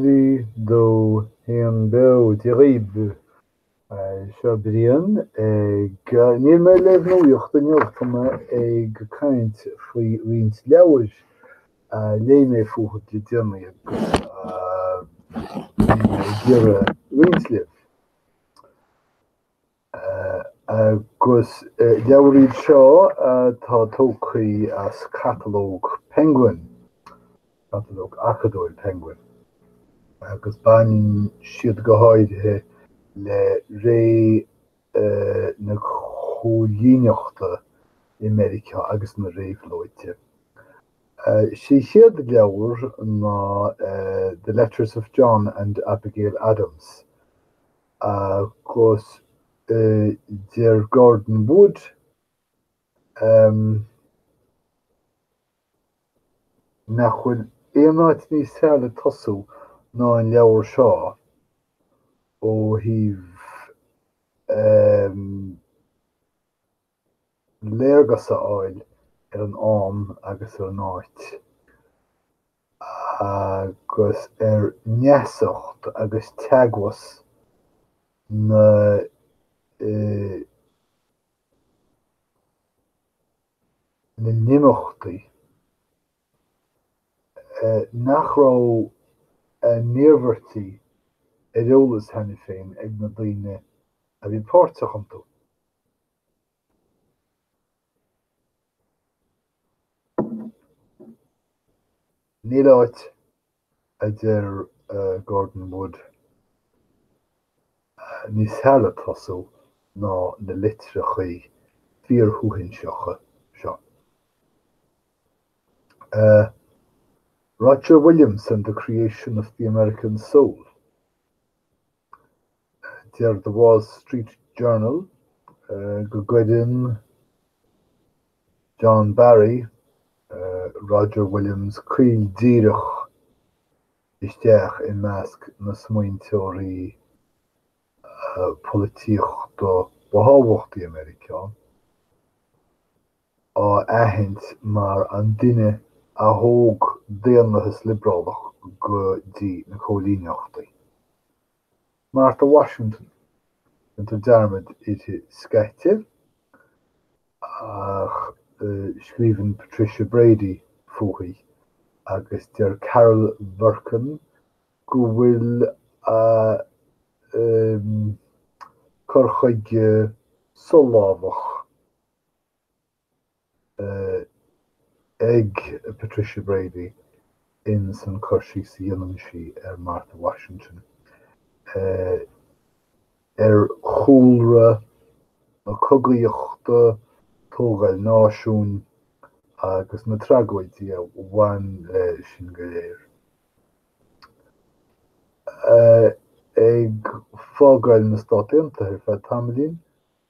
Dia go deo beo de dhaoibh. Seo Brian agus níl mé le nuaíocht anocht ach mé ag caint faoi roinnt leabhair a léigh mé fúthu le deireanaí ag iarraidh a roinnt libh. agus leabhar iad seo atá tógtha as catalóg Penguin, catalóg acadúil Penguin, agus baineann siad go háirithe le ré na cóilíneachta i Meiriceá agus na réabhlóide. Is é an chéad leabhar ná The Letters of John and Abigail Adams. Agus deir Gordon Wood nach bhfuil aon áit níos fearr le tosú ná an leabhar seo ó thaobh léargas a fháil ar an am agus ar an áit agus ar neasacht agus teagmhas na n-imeachtaí nach raibh na hiarmhairtí ar eolas cheana féin ag na daoine a bhí páirteach iontu. Níl áit, a deir Gordon Wood, níos fearr le tosú ná na litreachaí fíorshuaithinseacha seo. Roger Williams and the Creation of the American Soul. Deir The Wall Street Journal go gcuireann John Barry Roger Williams caol díreach isteach i measc na smaointeoirí polaitíochta ba thábhachtaí i Meiriceá,. á aithint mar an duine a thóg daonlathas liobrálach go dtí na cóilíneachtaí. Martha Washington, déantar dearmad uirthi scaití, ach scríobhann Patricia Brady fúithi, agus deir Carol Berkin go bhfuil a cur chuige solámhach, ag Patricia Brady in san cur síos a dhéanann sí ar Martha Washington ar chúlra na cogaíochta, tógáil náisiúin agus na tragóidí a bhain le sin go léir. Ag fágáil na Stát Aontaithe ar feadh tamaillín,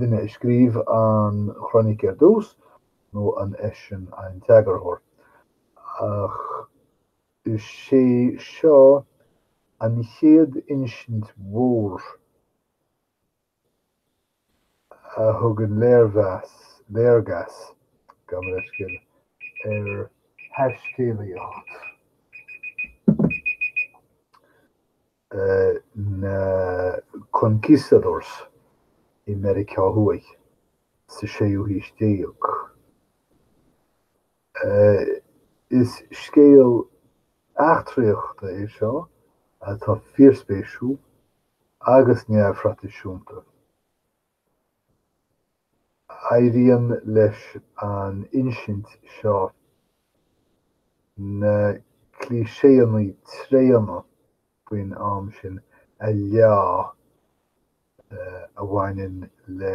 duine a scríobh an chroinic ar dtús, nó an eisean an t-eagarthóir? Ach is é seo an chéad insint mhór a thugann léirmheas, léargas, gabh mo leithscéal, ar thaiscéalaíocht. na Conquistadores i Meiriceá Thuaidh sa séú haois déag. Is scéal eachtraíochta é seo atá fíorspéisiúil agus neamhthraidisiúnta. Éiríonn leis an insint seo na cliché-anna tréana faoin am sin a leá a bhaineann le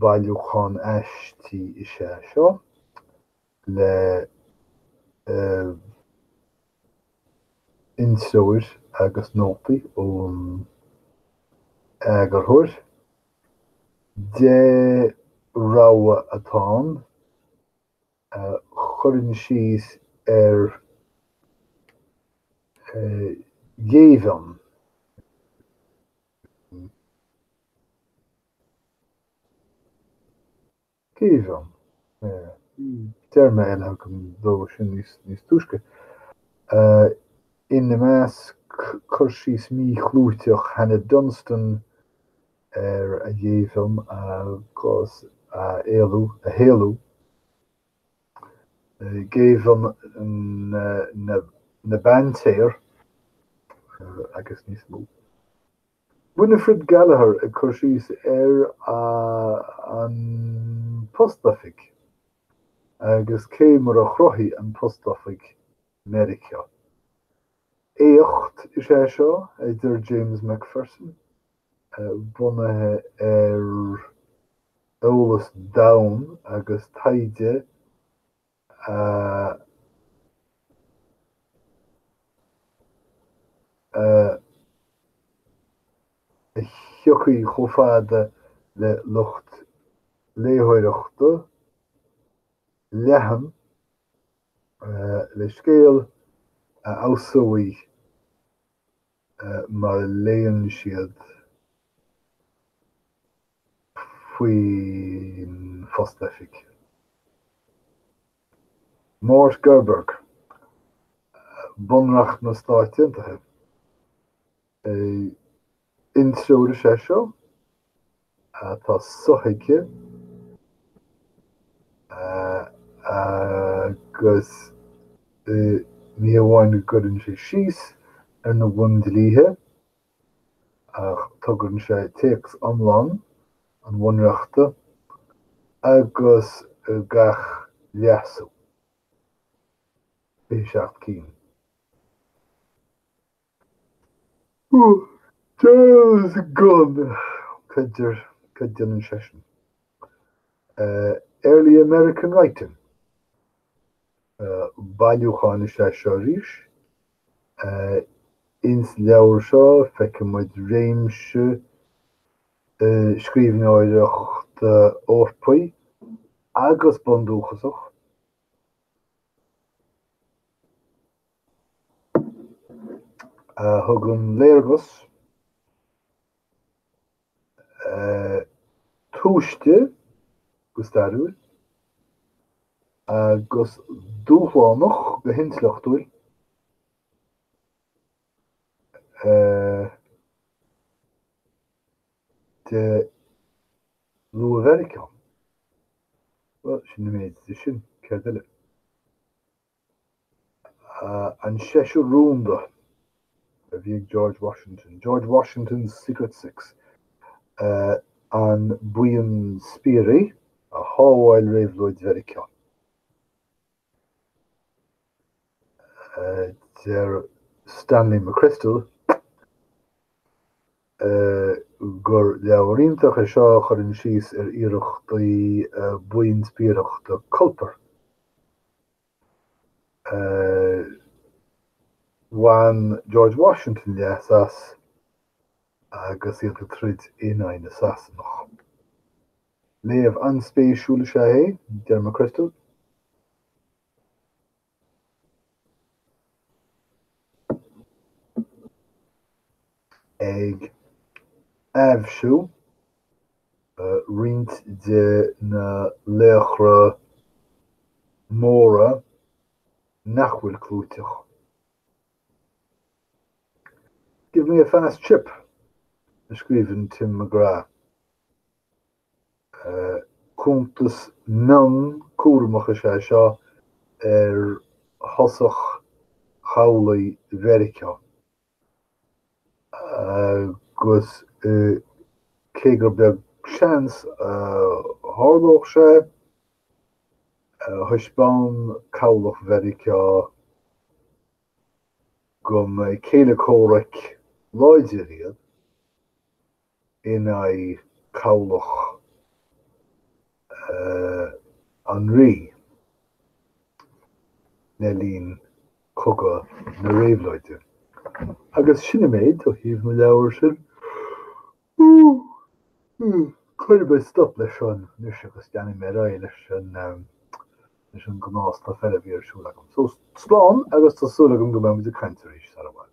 Bailiúchán aistí is ea seo le hintreoir agus nótaí ón eagarthóir. Deich rogha atá ann a chuireann síos ar ghéibheann. Géibheann, téarma eile agam dó sin níos níos túisce. Ina measc, cur síos míchlúiteach Hannah Dunstan ar a ghéibheann agus a éalú, a héalú. Géibheann na bPaintéar agus níos mó. Winifred Gallagher ag cur síos ar an Postoifig agus cé mar a chruthaigh an Postoifig Meiriceá. Éacht is ea seo, a deir James McPherson. bunaithe ar eolas domhain agus taighde a thiocfaidh chomh fada le lucht léitheoireachta leathan, le scéal a fheabhsóidh má léann siad faoin phost oifig. Mort Gerberg, Bunreacht na Stát Aontaithe. Treoir is ea seo atá sothuigthe agus ní hamháin go gcuireann sé síos ar na bhun-dlíthe ach tugann sé téacs iomlán an Bhunreachta agus gach leasú, 27 cinn. Early American Writing, bailiúchán is ea seo arís. Ins leabhar seo feicimid réimse scríbhneoireachta Eorpaí agus Bundúchasach. a thugann léargas tomhaiste go stairiúil agus dúshlánach go hintleachtúil de luath-Mheiriceá. Bhuel, sin an méid de sin, céard eile? An Seisear Rúnda a bhí ag George Washington, George Washington's Secret Six, an buíon spiairí a shábháil Réabhlóid Mheiriceá. Deir Stanley McChrystal, gur leabhar iontach é seo a chuireann síos ar iarrachtaí buíon spiaireachta Culper a bhain George Washington leas as agus iad ag troid in aghaidh na Sasanach. Léamh an-spéisiúil is ea é, deir McChrystal. ag aibhsiú roinnt de na laochra móra nach bhfuil clúiteach, Give me a fast ship, a scríobh Tim McGrath. Cuntas mion cúramach is ea seo ar thosach chabhlaigh Mheiriceá agus cé gur beag seans a tharlódh sé, thaispeán cabhlach Mheiriceá go mba céile comhraic láidir iad. in aghaidh cabhlach an Rí le linn Cogadh na Réabhlóide. Agus sin an méid ó thaobh na leabhar sin. Cuirfidh mé stop leis seo anois agus leanfaidh mé ar aghaidh leis an leis an gnáthstuif eile a bhí ar siúl agam. So, slán agus tá súil agam go mbeimid ag caint arís sara bhfad.